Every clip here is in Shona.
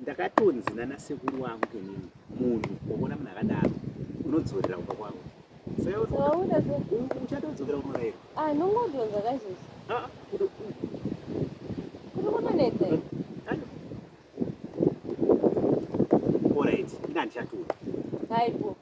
ndakatonzi nana sekuru wangu kenini munhu waona munhu akadaro unodzorera kumba kwangu uchatodzokera kumarairo ah, nongodonza kazhinji ah, ah, kuri kutonetsa orit ingandichatura aipo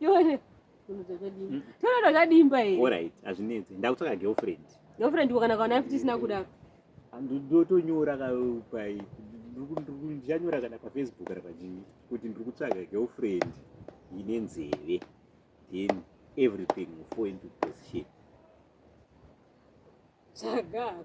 Yore. Tonoda kadimba here? All right, azvinetsi. Ndakutsvaka girlfriend. Girlfriend wakana kana kana tisina kuda. Ndotonyora ka pai. Ndikunyora kana pa Facebook kana pa jini kuti ndikutsvaka girlfriend ine nzeve. Then everything will fall into position. Chagako.